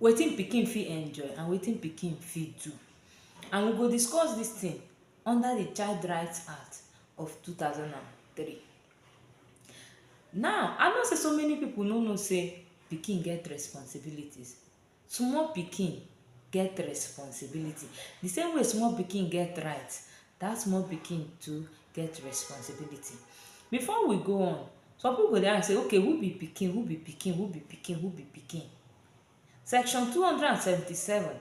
Wetin pikin fit enjoy and wetin pikin fit do and we go discuss dis tin under di Child Right Act of two thousand and three. Now, I know sey so many pipu no know sey pikin get responsibilities. Small pikin get responsibility. Di same way small pikin get right, dat small pikin too get responsibility. Before we go on, some pipu go dey ask sey okay who be pikin, who be pikin, who be pikin, who be pikin? Section two hundred and seventy seven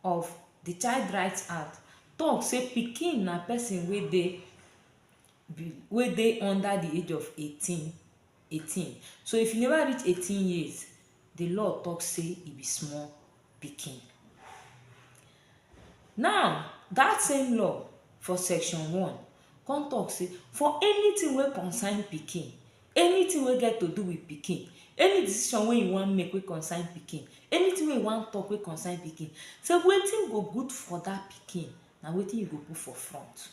of de Child Right Act talk sey pikin na person wey dey wey dey under de age of eighteen 18 so if you never reach 18 years the law talk say e be small pikin now that same law for section one come talk say for anything wey concern pikin anything wey get to do with pikin any decision wey you wan make wey concern pikin anything wey you wan talk wey concern pikin say wetin go good for that pikin na wetin you go put for front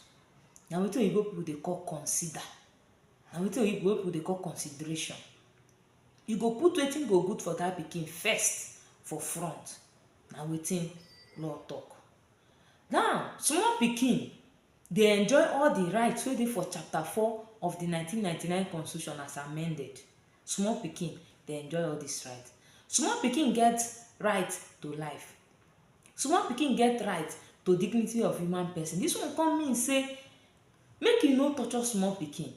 na wetin oyibo people dey call consider na wetin oyibo wey people dey call consideration you go put wetin go good for that pikin first for front na wetin law talk now small pikin dey enjoy all the rights wey dey for chapter four of the nineteen ninety nine constitution as amended small pikin dey enjoy all this right small pikin get right to life small pikin get right to dignity of human person this one come mean say Make you no torture small pikin,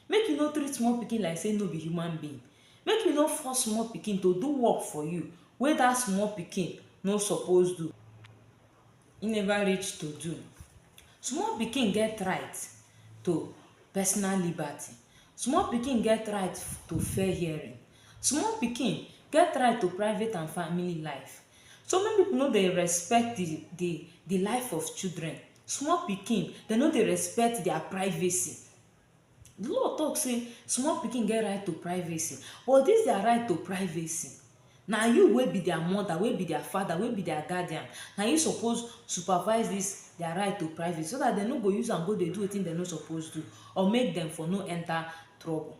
make you no treat small pikin like sey no be human being, make you no force small pikin to do work for you wey dat small pikin no suppose do, e neva reach to do. Small pikin get right to personal liberty, small pikin get right to fair hearing, small pikin get right to private and family life. So many pipu no dey respect di di di life of children. Small pikin, dem no dey respect dia privacy. Di law tok sey small pikin get right to privacy, but dis dia right to privacy, na you wey be dia mother, wey be dia father, wey be dia guardian, na you suppose supervise dis dia right to privacy so dat dem no go use am go dey do wetin dem no suppose do or make dem for no enter trouble.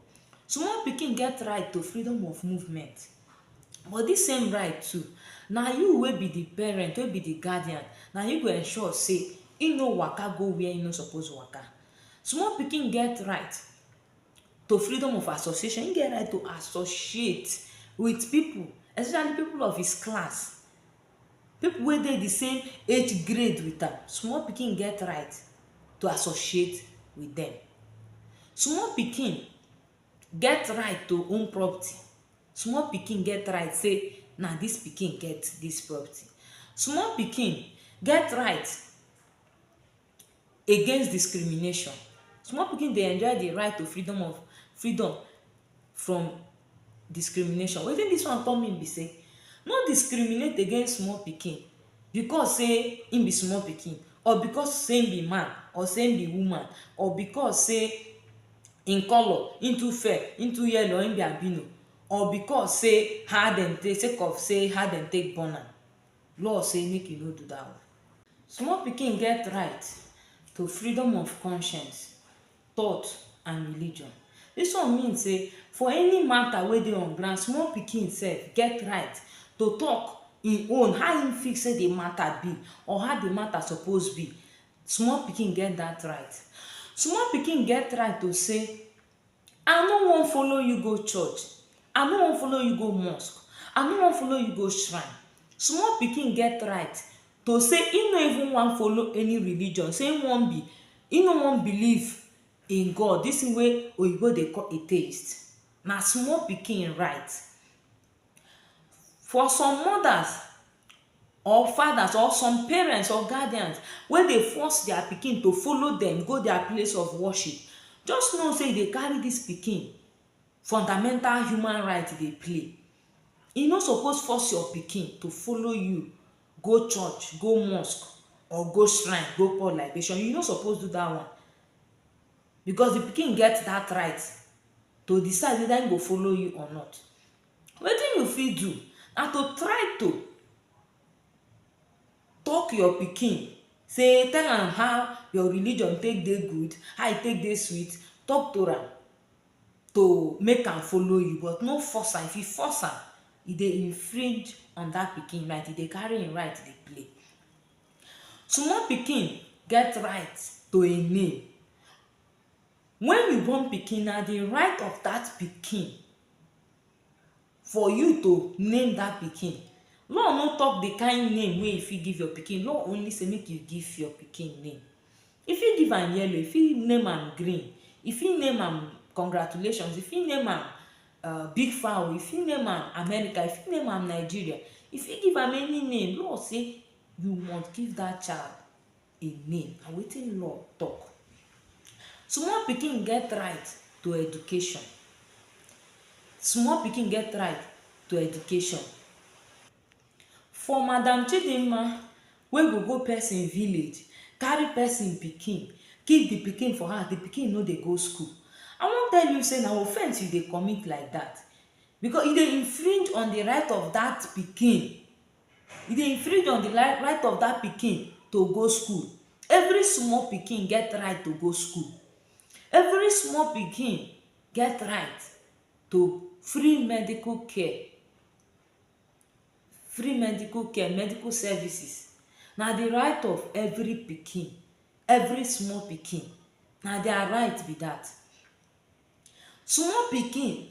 Small pikin get right to freedom of movement. But dis same right too, na you wey be di parent, wey be di guardian, na you go ensure say im no waka go where im no suppose waka. Small pikin get right to freedom of association, im get right to associate wit pipu, especially pipu of his class, pipu wey dey di same age grade wit am. Small pikin get right to associate wit dem. Small pikin get right to own property small pikin get right sey na dis pikin get dis property small pikin get right against discrimination small pikin dey enjoy the right to freedom of freedom from discrimination wetin dis one come mean be sey no discriminate against small pikin because sey him be small pikin or because sey him be man or sey him be woman or because sey Im colour, im too fair, im too yellow or im be albino or because sey how dem take sake of sey how dem take born am, law sey make you no do dat one. Small pikin get right to freedom of conscience, thought and religion. Dis one mean sey for any matter wey dey on ground, small pikin sef get right to talk im own, how im feel sey de matter be or how de matter suppose be. Small pikin get dat right. Small pikin get right to say, I no wan follow you go church, I no wan follow you go mosque, I no wan follow you go shrine. Small pikin get right to say im no even wan follow any religion, say im wan be, im no wan believe in God, dis thing wey oyinbo dey call atheist, na small pikin right. For some mothers or fathers or some parents or guardians wey dey force dia pikin to follow dem go dia place of worship just know sey you dey carry dis pikin fundamental human right dey play you no suppose force your pikin to follow you go church, go mosque or go shrine go pour libation, you no suppose do dat one because di pikin get dat right to decide weda im go follow you or not. Wetin you fit do na to try to tok your pikin sey tell am how your religion take dey good, how e take dey sweet, tok to am to make am follow you but no force am. If you force am, e dey infringe on dat pikin right, e dey carry im right dey play. Small pikin get right to a name. Wen you born pikin, na di right of dat pikin for you to name dat pikin. Law no tok di kain name wey you fit give your pikin. Law only say make you give your pikin name. You fit give am yellow, you fit name am green, you fit name am congratulations, you fit name am uh, big fowl you fit name am america you fit name am nigeria you fit give am any name law say you must give that child a name na wetin law talk small pikin get right to education small pikin get right to education For madam Chidimma wey go go person village carry person pikin keep the pikin for house, the pikin no dey go school I wan tell you say na offense you dey commit like that because you dey infringe on the right of that pikin you dey infringe on the right of that pikin to go school every small pikin get right to go school every small pikin get right to free medical care free medical care, medical services na di right of every pikin, every small pikin na dia right be dat. Small pikin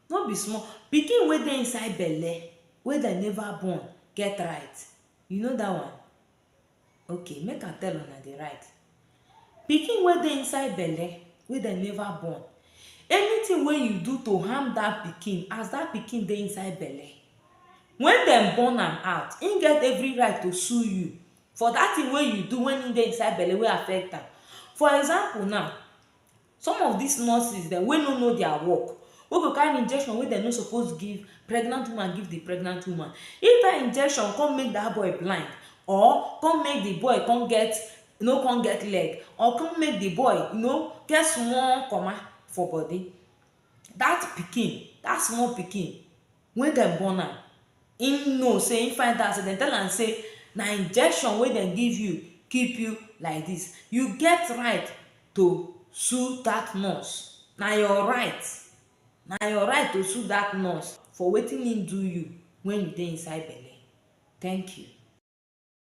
no be small, pikin wey dey inside belle wey dem neva born get right, you know dat one? Okay make I tell una di rite. Pikin wey dey inside belle wey dem never born, anything wey you do to harm dat pikin as dat pikin dey inside belle, wen dem born am out im get every rite to sue you for dat thing wey you do wen im dey inside belle wey affect am. For example now Some of dis nurses dem wey no know dia work, wey go carry injection wey dem no suppose give pregnant woman give di pregnant woman, if dat injection kon make dat boy blind or kon make di boy kon get no kon get leg or kon make di boy you know get small koma for body, dat pikin, dat small pikin. Wen dem born am, im know say im find out say dem tell am say na injection wey dem give you keep you like dis. You get right to sue dat nurse. Na your right. Na your right to sue dat nurse for wetin im do you wen you dey inside belle. Thank you.